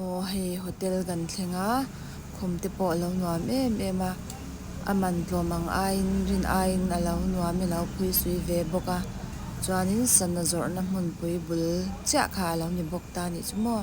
Aw hei hotel kan thleng a khum te pawh alo nuam em em a a man tlawm ang aiin rin aiin alo nuam alo phui sui ve bawk a chuanin sana zawrhna hmun pui bul chiah kha alo ni bawk ta a nih chu maw.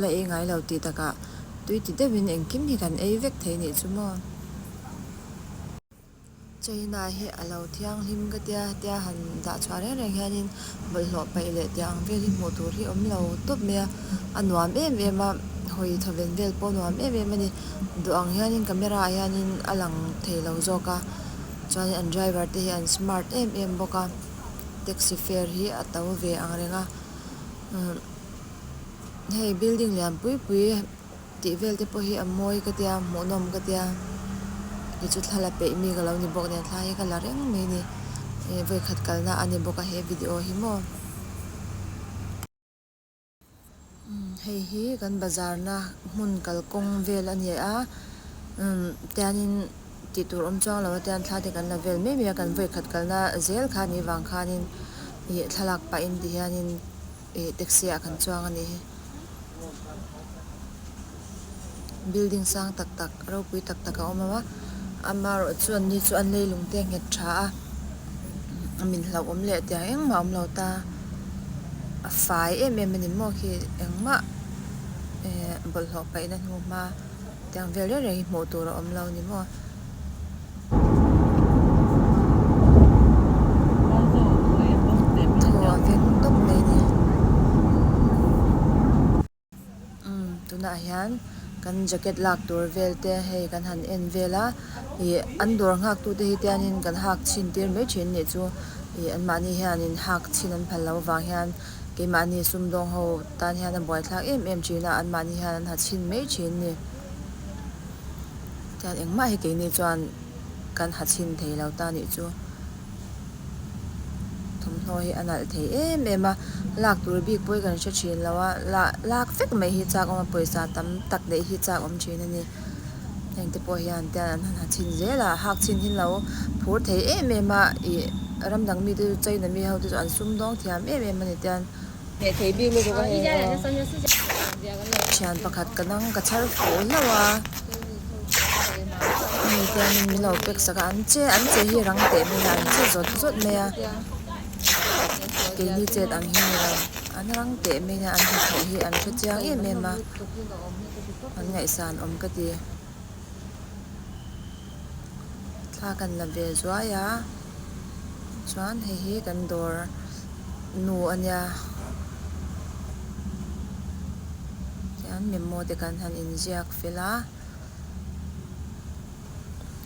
La i ngai lo tih takah tui ti deuhin engkim hi kan ei vek thei nih chu maw? China hi a lo thianghlim ka tia tia han dah chhuah reng reng hianin bawlhhlawh paih leh teh ang vel hi hmuh tur hi awm lo tawp mai a, a nuam em em a, hawi chhaven vel pawh a nuam em em a ni. Duh ang hianin camera ah hianin a lang thei lo zawk a, chuanin an driver te hi an smart em em bawk a, taxi fare hi a to ve ang reng a. hei building lian pui pui tih vel te pawh hi a mawi ka tia hmuh nawm ka tia i chu thla la peih mi ka lo ni bawk nen thlai hi ka la reng mai ni e vawikhat kal na a ni bawk a he video hi maw umm hei hi kan bazar na hmun kal kawng vel a ni a umm tiang in tih tur awm chuang lo a tiang thla te kan la vel mai mai a kan vawikhat kal na zel kha ni vang khan in ih thlalak pah in ti hian in-- Ih taxi ah kan chuang ani hi building sang tak tak ropui tak tak a awm a ama erawh chu anni chu an lei lung te a nghet tha a a min hlauh awm leh tiang engmah a awm lo ta a fai em em a ni maw khi engmah eh bawlhhlawh paihna hnu hma tiang vel reng reng hi hmuh tur a awm lo ni maw. tunah hian kan jacket lak tur vel te hei kan han en vel a ih an dawr nghak tu te hi te hianin kan hak chhin tir mai thin anih chu ih an mahni hianin hak chhin an phal loh avang hian keimahni sumdawng ho tan hian a buaithlak em em thin a an mahni hian an ha chhin mai thin ani. Chuan engmah hi keini chuan kan ha chhin thei lo ta nih chu. Thawmhnaw hi a nalh thei em em a, lak tur bik pawi kan hre thin lo a, lah lak vek mai hi chak awma pawisa tam tak neih hi chak awm thin a ni. Heng te pawh hian tian an han ha chhin zel a, hak chhin hi an lo phur thei em em a, ih ram dang mite chu China mi ho te chu an sum dawng thiam em em a ni tian. Hmeh thei bik lutuk a ni aw. Thian pakhat ka dang ka chhar fo hlauh a. Hemi hianin milo pek sak a an che. An che hi rang teh mai a an che zawt zawt mai a. Keini chet ang hi nilo an rang teh mai a an hnathawh hi an hre chiang em em a. An ngaihsan awm ka ti. Thla kan la ve zuai a. chuan hei hi kan dawr nu a nia tihian memo te kan han in ziak fel a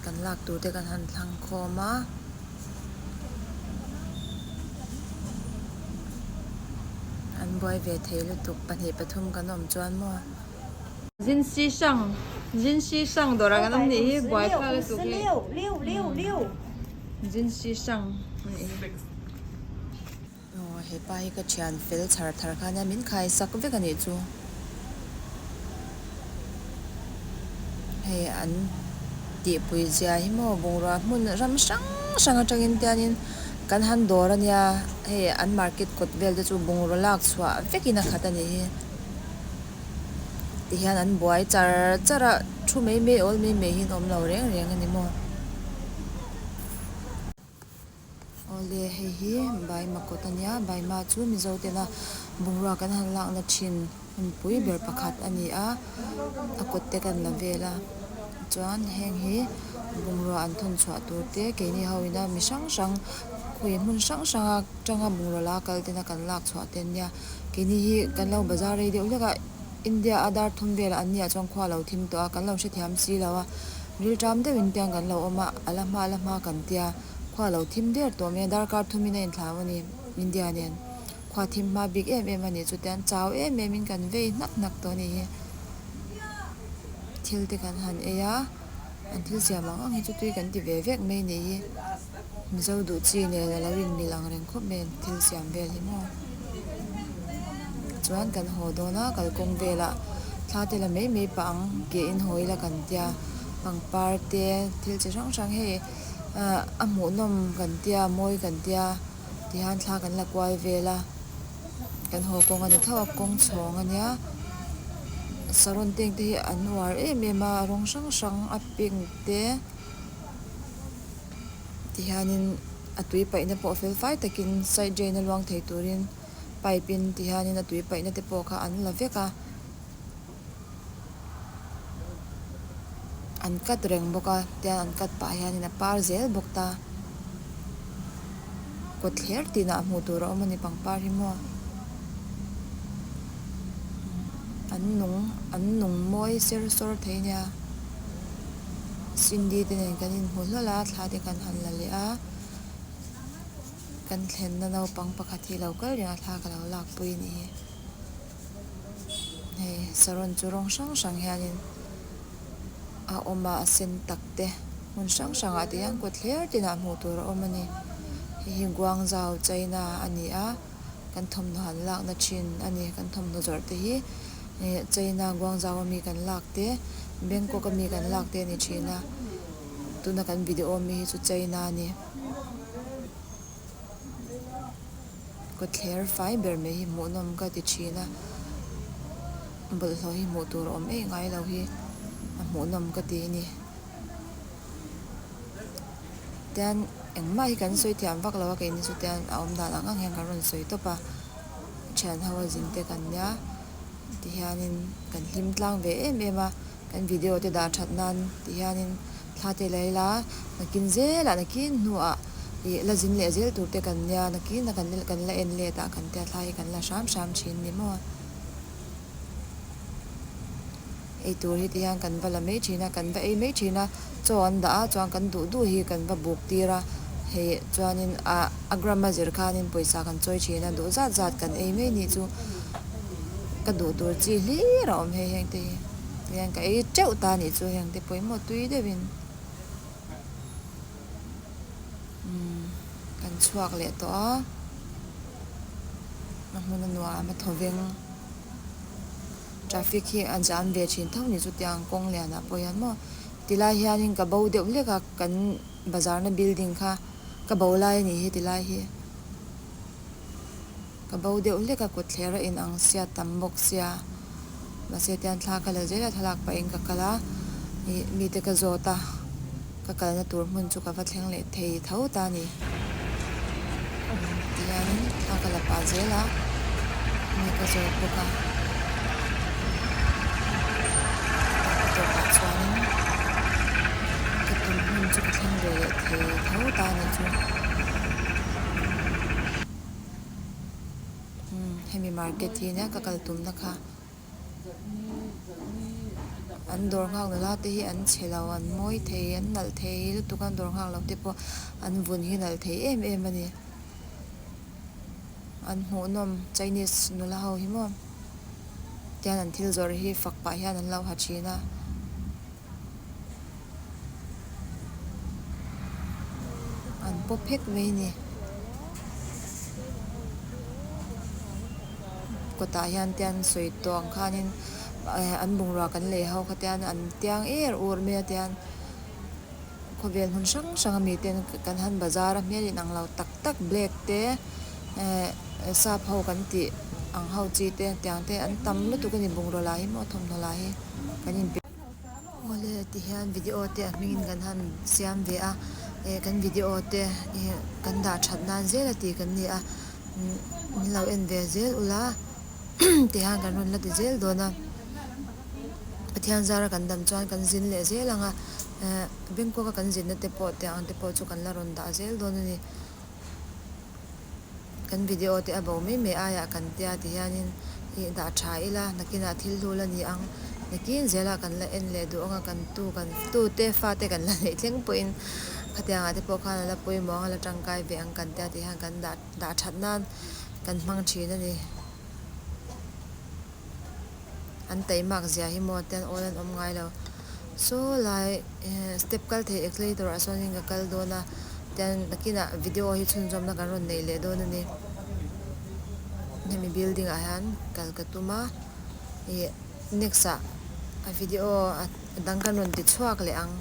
kan lak tur te kan han thlang khawm a. Zinsi hrang, Zinsi hrang dawrah kan awm nih hi buai phak la tuk hi Zinsi hrang a nih hi. Aw hepa hi ka thian fel chhar thar kha nia min khai sak vek anih chu hei an tihpui zia hi maw bungrua hmun ram hrang hrang atangin te anin kan han dawr ania hei an market kawt vel te chu bungraw lak chhuah vekin a khat anih hi. ti hian an buai char char a thu mai mai awl mai mai hi an awm lo reng reng a ni maw awle hei hi baima kawt a nia baima chu mizo tena bungrua kan han lakna thin hunpui ber pakhat a ni a a kawt te kan la vel a chuan heng hi bungrua an thawn chhuah tur te keini ho ina mi hrang hrang khawi hmun hrang hrang a tanga bungraw la kal tena kan lak chhuah te a nia. Keini hi kan lo bazar rei deuh hlek a, India a dar thum vel an nia chuan khua a lo thim tawh a, kan lo hrethiam si lo a, rilṭam deuh in pian kan lo awm a, a la hma a la hma kan tia khua a lo thim der tawh mai a, darkar thum in a in thlau a ni, India nen khua thim hma bik em em a ni, chutiang an chau em em in kan vei hnak hnak tawh a ni hi, thil te kan han ei a. an thil siam ang ang hi chu tui kan ti ve vek mai ni hi mizo duh chi nen alo inmil ang reng khawp mai an thil siam vel hi maw chuan kan haw dawn a kalkawng vela thla te la mai mai pah ang ke in haw ila kan tia pangpar te thil chi hrang hrang hei ahh a hmuhnawm kan tia mawi kan tia ti han thla kan la kual vel a. kan haw kawng a ni thap a kawng chhawng a nia saron teng te hi an uar em em a rawng hrang hrang a pink te tihianin a tui paihna pawh fel fai takin side drain a luang thei turin pipe in tihian a tui paihna te pawh kha an la vek a. an cut reng bawk a tian an cut pah hian a par zel bawk ta kawt thler tin ah hmuh tur a awm a ni pangpar hi maw an nung an nung mawi ser sawr thei a nia cindy te nen kan in hmu hlawl a thla te kan han la leh a kan thlen na naupang pakhat hi lo kal ringah thla ka lo lakpui a ni. Hei saron chu rawng hrang hrang hianin a awm a a sen tak te hmun hrang hrang ah te hian kawt thler ten ah hmuh tur a awm a ni hei hi Guangzhou China a ni a kan thawmhnaw han lakna thin a ni kan thawmhnaw zawrh te hi eh China Guangzhou ami kan lak te Bangkok ami kan lak te a ni thin a tuna kan video awm mi hi chu China a ni. Kawtthler fai ber mai hi hmuh nawm ka ti thin a, bawlhhlawh hi hmuh tur a awm ei ngai lo hi a hmuh nawm ka ti a ni. Tian engmah hi kan sawi thiam vak lo a keini chu tian a awm dan ang ang hian kan rawn sawi tawp a, thian ho a zin te kan nia ti hian in kan hlim tlang ve em em a, kan video te dah that nan ti hian in. Thla teh la ila, nakin zela nakin hnuah ih la zin leh zel turte kan nia, nakin kan la en let a kan tia thla hi kan la hram hram thin ni maw? Eitur hite hian kan va la mai thin a, kan va ei mai thin a, chaw an dah a chuan kan duh duh hi kan va buk tir a, hei chuanin a gram a zir khanin pawisa kan chawi thin a, duh zat zat kan ei mai ni chu ka duh tur chi hlir a awm hei heng te hi. Heng ka ei teuh ta nih chu heng te pawimawh tui deuh in umm kan chhuak leh tawh a, a hmun a nuam a thaw veng traffic hi a jam ve thin tho nih chu tiang kawng lian ah pawh hian maw ti lai hian in ka bo deuh hlek a kan bazar na building kha ka bo lai a ni hi ti lai hi. Ka bo deuh hlek a, kut thler a in ang sia tam bawk sia. Mahse tian thla ka la zela thlalak pah in ka kal a, mi mi te ka zawt a, ka kal na tur hmun chu ka va thleng leh thei tho ta ni. Tihian thla ka la pah zel a, mi ka zawt bawk a. Ka tawp ah chuan in ka tum hmun chu ka thleng ve leh thei tho ta ni chu. Hemi market hi ania ka kal tum na kha an dawr nghak loh la te hi an chhe lo an mawi thei an nalh thei lutuk a dawr nghak loh te pawh an vun hi nalh thei em em a ni an hmuh nawm chinese nula ho hi maw tian an thil zawrh hi fak pah hian an lo ha thin a. An paw phek mai ni. Kawtah hian te an sawi tawh ang khanin ehh an bungrua kan lei ho kha te hian an tiang er ur mai a tian khawvel hmun hrang hrang a mi ten kan han bazar a hmel inang lo tak tak black te ehh sap ho kan tih ang ho chi te tiang te an tam lutuk a ni bungrua lah hi maw thawmhnaw lah hi kan inpe-- Awle tihian video te a hmingin kan han siam ve a, eh kan video te kan dah that nan zel a tih kan ni a, min lo en ve zel ula tihian kan rawn la ti zel dawn a, Pathian zara kan dam chuan kan zin leh zel ang a, eh Bangkok a kan zin na te pawh te ang te pawh chu kan la rawn dah zel dawn a ni. Kan video te a bo mai mai aiah kan tia ti hianin i dah tha ila, nakinah thil hlu la ni ang, nakin zela kan la en leh duh ang a, kan tu kan tute fate kan la neih thleng pawhin khatianga te pawh khan a la pawimawh ang a la tangkai ve ang kan tia ti hian kan dah dah that nan kan hmang thin a ni. an taih mak zia hi maw te an awl an awm ngai lo. Saw lai eh step kal thei aclator ah sawn in ka kal dawn a chuan nakin ah video hi chhunzawm na kan rawn nei leh dawn a ni hemi building ah hian kal ka tum a ih next ah a video a dang kan rawn ti chhuak leh ang.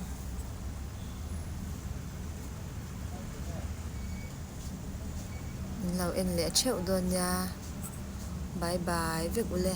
Inlo en leh theuh dawn nia. Bye bye vek u le.